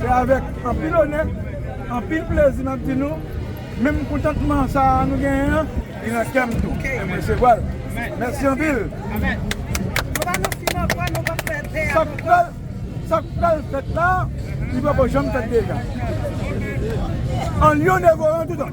Se avèk anpil onè, anpil plezi map di nou, menm kontantman sa a nou genyen an, li nan kè m tou, e m resevwa l. Mèsi anpil! Sa k pral fèt la, li poko janm fèt deja. An lyon devoran tout an.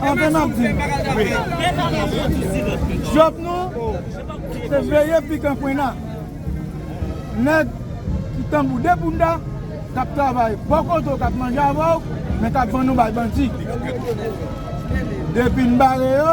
Anfen nap di job nou se veye pikan pwenna neg ki tanbou de bounda kap travay bò kote w kap manje avè w men kap vann ou bay bandi depi n bare yo